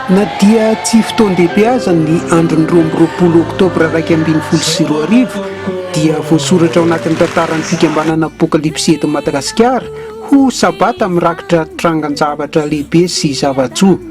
Na dia tsy fotoan-dehibe aza ny andron'ny roa amby roapolo oktobra iraika ambin'ny folo sy roa arivo dia voasoratra ao anatin'ny tantaran'ny fikambanana Apokalipsy eto Madagasikara ho sabata mirakitra trangan-javatra lehibe sy zava-tsoa.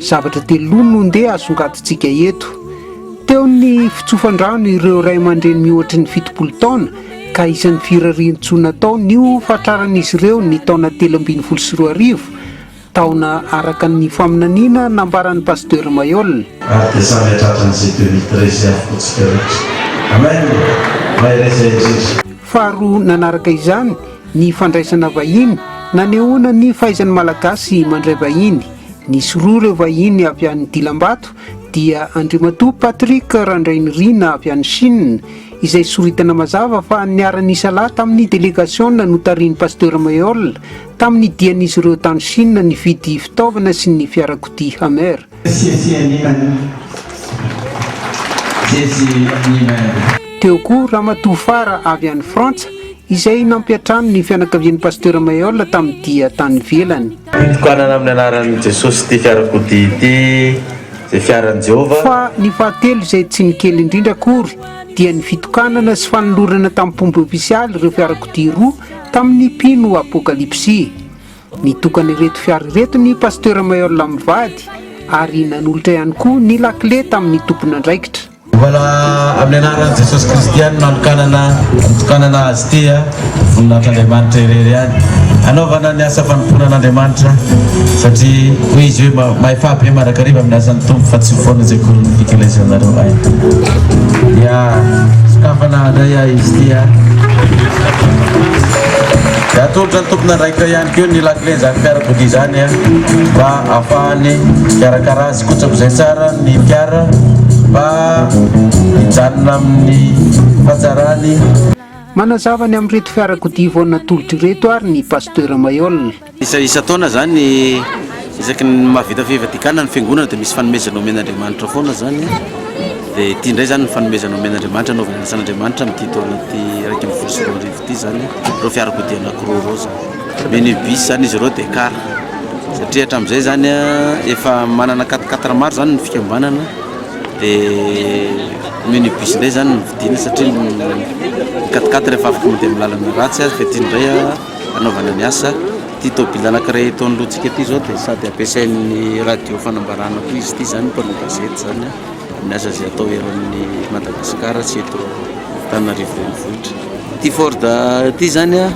Zavatra telo no ndeha asongadintsika eto. Teo ny fitsofan-drano ireo ray aman-dreny mihoatry ny fitopolo taona ka isan'ny firarian-tsoa natao ny ho fatraran'izy ireo ny taona telo ambin'ny folo sy roa arivo, taona araka ny faminaniana nambaran'ny Pasteur Mayolle. Ary dia samy hahatratra an'izay deux mille treize avokoa tsika rehetra. Amen! Mahereza indrindra. Faharoa nanaraka izany, Ny fandraisana vahiny, nanehoana ny fahaizan'ny Malagasy mandray vahiny. Nisy roa ireo vahiny avy any Dilambato, dia Andriamatoa Patrick Randrainirina avy any Chine, izay soritana mazava fa niara-nisa lahy tamin'ny delegasiona notarihin'i Pasteur Maihol, tamin'ny dian'izy ireo tany Chine nividy fitaovana sy ny fiarakodia Hummer. Siesie Nimany Siesie Nimany. Teo koa Ramatoa Fara avy any Frantsa izay nampiantrano ny fianakavian'i Pasteur Maihol tamin'ny dia tany ivelany. Fitokanana amin'ny anaran'i Jesosy ity fiarakodia ity izay fiaran'i Jehovah. Fa ny fahatelo izay tsy ny kely indrindra akory dia ny fitokanana sy fanolorana tamin'ny mpomby ofisialy ireo fiarakodia roa tamin'ny mpino Apokalypsy. Nitokana ireto fiara ireto ny Pasteur Maheul Amivady ary nanolotra ihany koa ny lakile tamin'ny tompon'andraikitra. Hovana amin'ny anaran'i Jesosy Kristy ihany no nanokanana nitokanana azy ity a, voninahitr'Andriamanitra irery ihany hanaovana ny asa fanompoana an'Andriamanitra satria hoy izy hoe mahefa be mandrakariva amin'ny asan'ny Tompo fa tsy ho foana izay korin'ny Eklesianareo hay dia sokafana indray a izy ity a. Dia atolotra ny tompon'andraikitra ihany koa ny lakilen'izany fiarakodia izany mba hahafahany mikarakara azy kotsak'izay tsara ny fiara mba hijanona amin'ny fahatsarany. Manazava ny amin'ireto fiarakodia vao natolotra ireto ary ny Pasteur Maihol. Isan-taona izany, isaky ny mahavita fivadikana ny Fiangonana dia misy fanomezana omen'Andriamanitra foana izany. Dia ity indray izany ny fanomezana omen'Andriamanitra, anaovana ny asan'Andriamanitra amin'ity taona ity iraika ambin'ny folo sy roa arivo ity. ity izany ireo fiarakodia anankiroa ireo izao. Minibus izany izy ireo dia car. Satria hatramin'izay izany efa manana quatre quatre maro izany ny fikambanana dia minibus indray izany no vidiana satria ny quatre quatre efa afaka mandeha amin'ny lalana ratsy ary fa ity indray hanaovana ny asa. Ity tôbily anankiray eto anoloantsika ity izao dia sady ampiasain'ny radio fanambarana koa izy ity izany, mpanao gazety izany, amin'ny asa izay atao eran'ny Madagasikara sy eto Antananarivo renivohitra. Ity Ford ity zany a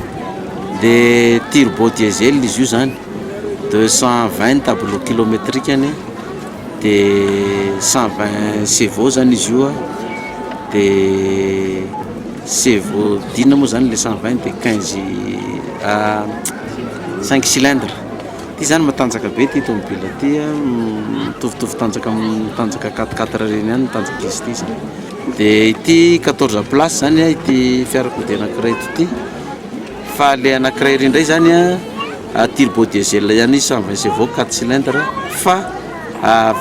dia turbo diesel izy io zany deux cent vingt tableau kilometrikany dia cent vingt chevaux zany izy io a dia chevaux dina moa zany le cent vingt dia quinze ah, cinq cylindres ity zany matanjaka be ity tomobile ity a mitovitovy tanjaka amin'ny tanjaka quatre quatre ireny ihany ny tanjaky izy ity zany Dia ity quatorze place zany a ity fiarakodia anakiray eto ity fa le anakiray ery indray zany a turbo diesel ihany izy cent vingt chevaux quatre cylindres fa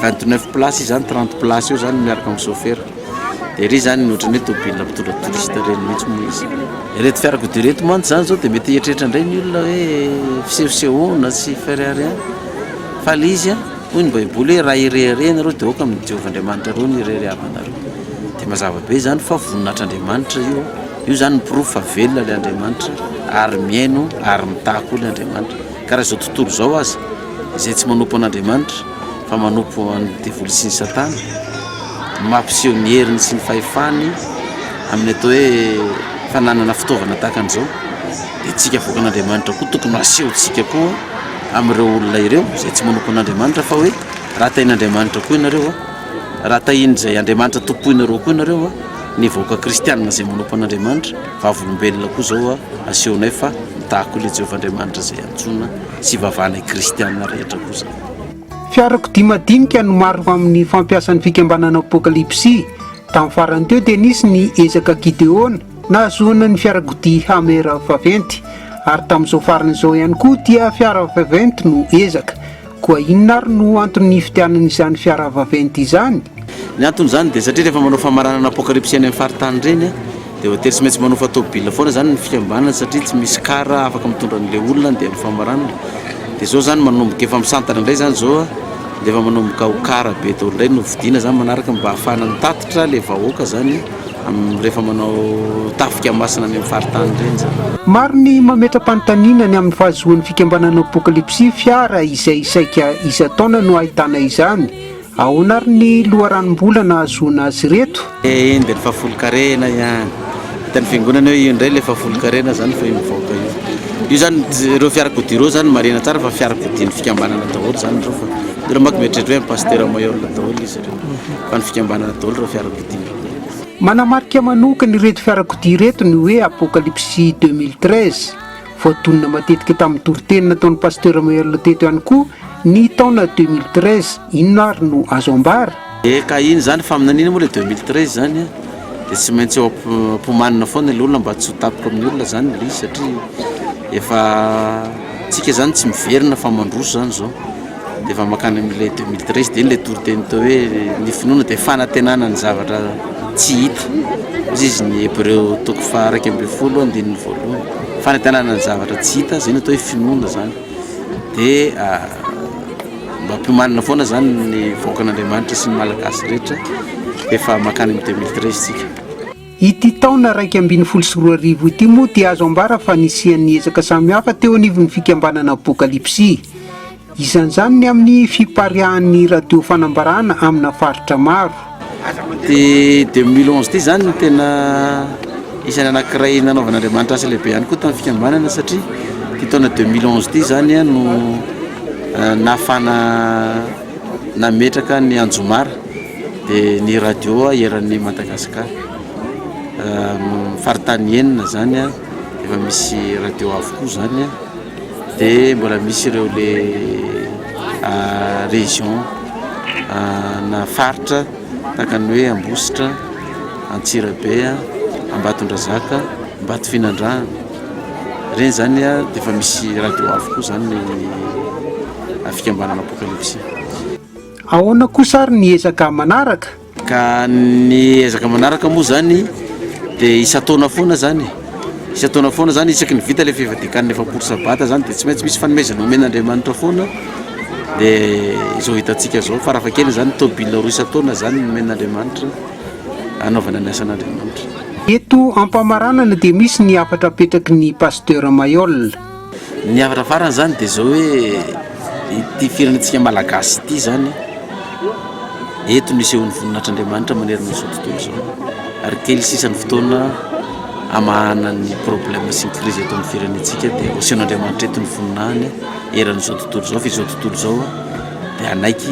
vingt neuf place izy zany trente place eo zany miaraka amin'ny chauffeur dia ery zany ny ohatran'ny hoe tôbila mpitondra touriste ireny mihitsy moa izy ireto fiarakodia ireto mantsy zany zao dia mety hieritreritra indray ny olona hoe fisehosehoana sy fairy rien fa le izy a Hoy ny baiboly hoe raha ireharehana ianareo dia aoka amin'i Jehovah Andriamanitrareo ny irery havanareo. Dia mazava be izany fa voninahitr'Andriamanitra io. Io izany ny porofo fa velona ilay Andriamanitra ary mihaino ary mitaha koa ilay Andriamanitra. Ka raha izao tontolo izao aza izay tsy manompo an'Andriamanitra fa manompo an'i devoly sy ny satana no mampiseho ny heriny sy ny fahefany amin'ny atao hoe fananana fitaovana tahaka an'izao dia tsika avoakan'Andriamanitra koa tokony ho asehontsika koa amin'ireo olona ireo izay tsy manompo an'Andriamanitra fa hoe raha tahin'Andriamanitra koa ianareo, raha tahin'izay Andriamanitra tompoinareo koa ianareo, ny vahoaka kristianina izay manompo an'Andriamanitra, vavolombelona koa izao asehonay fa mitaha koa ilay Jehovah Andriamanitra izay antsoina sy ivavahanay kristianina rehetra koa izany. Fiarakodia madinika no maro amin'ny fampiasan'ny fikambanana Apokalypsy. Tamin'ny farany teo dia nisy ny ezaka Gideona, Nahazoana ny fiarakodia Hummer vaventy ary tamin'izao farany izao ihany koa dia fiara vaventy no ezaka. Koa inona ary no antony nifidianana izany fiara vaventy izany? Ny anton'izany dia satria rehefa manao famaranana apokalipsy any amin'ny faritany ireny dia voatery tsy maintsy manofa tôbila foana izany ny fikambanana satria tsy misy car afaka mitondra an'ilay olona handeha amin'ny famaranana. Dia izao izany manomboka efa misantana indray izany izao dia efa manomboka ho car be daholo indray no vidiana izany manaraka mba hahafahana mitatitra ilay vahoaka izany. amin'ny rehefa manao tafika masina any amin'ny faritany ireny izany. Maro ny mametra-panontaniana ny amin'ny fahazoan'ny fikambanana Apokalipsy fiara izay saika isan-taona no ahitana izany. Ahoana ary ny loharanom-bola nahazoana azy ireto? Eny dia ny fahafolonkarena ihany. Hitan'ny fiangonana hoe io indray ilay fahafolonkarena izany fa io mivaoka io. Io izany ireo fiarakodia ireo izany marihina tsara fa fiarakodian'ny fikambanana daholo izany ireo fa ireo manko mieritreritra hoe an'i Pasitera Mayorga daholo izy ireo fa ny fikambanana daholo ireo fiarakodia. Manamarika manokana ireto fiarakodia ireto ny hoe Apokalypsy deux mille treize. Voadonina matetika tamin'ny toriteny nataon'i Pasteur Merle teto ihany koa ny taona deux mille treize. Inona ary no azo ambara? Dia ka iny izany faminaniana moa ilay deux mille treize izany an, dia tsy maintsy eo am-pomanina foana ilay olona mba tsy ho tapoka amin'ny olona izany ilay izy satria efa, antsika izany tsy miverina fa mandroso izany izao. Dia efa mankany amin'ilay deux mille treize dia iny ilay toriteny teo hoe ny finoana dia fanantenana ny zavatra tsy hita. Hoy izy ny Hebreo toko faha iraika ambin'ny folo andininy voalohany. Fanantenana ny zavatra tsy hita, izay no atao hoe finoana izany. Dia mampiomanina foana izany ny vahoakan'Andriamanitra sy ny Malagasy rehetra efa mankany amin'ny deux mille treize isika. Ity taona iraika ambin'ny folo sy roa arivo ity moa dia azo ambara fa nisian'ny ezaka samihafa teo anivon'ny fikambanana Apokalipsy. Isan'izany ny amin'ny fipariahan'ny radio fanambarana amina faritra maro. Ity deux mille onze ity izany no tena isan'ny anankiray nanaovan'Andriamanitra asa lehibe ihany koa tamin'ny fikambanana satria ity taona deux mille onze ity izany no nahafahana nametraka ny anjomara. dia ny radio eran'ny Madagascar faritany enina zany a efa misy radio avokoa zany a dia mbola misy ireo le région na faritra tahaka ny hoe Ambositra Antsirabe a Ambatondrazaka Ambatofinandrahana ireny zany a dia efa misy radio avokoa zany ny fikambanana Apocalypse Ahoana kosa ary ny ezaka manaraka? Ka ny ezaka manaraka moa izany dia isan-taona foana izany e. Isan-taona foana izany, isaky ny vita ilay fivadikan-ny efapolo sabata izany dia tsy maintsy misy fanomezana omen'Andriamanitra foana, dia izao hitantsika izao, farafahakeliny izany tôbila roa isan-taona izany no omen'Andriamanitra hanaovana ny asan'Andriamanitra. Eto am-pamaranana dia misy ny hafatra apetraky ny Pasteur Mailhol. Ny avaravarana izany dia izao hoe ity firenentsika malagasy ity izany eto no isehoan'ny voninahitr'Andriamanitra manerana izao tontolo izao ary kely sisa ny fotoana hamahana ny problème sy ny crise eto amin'ny firenentsika dia hosehoan'Andriamanitra eto ny voninahiny eran'izao tontolo izao fa izao tontolo izao dia hanaiky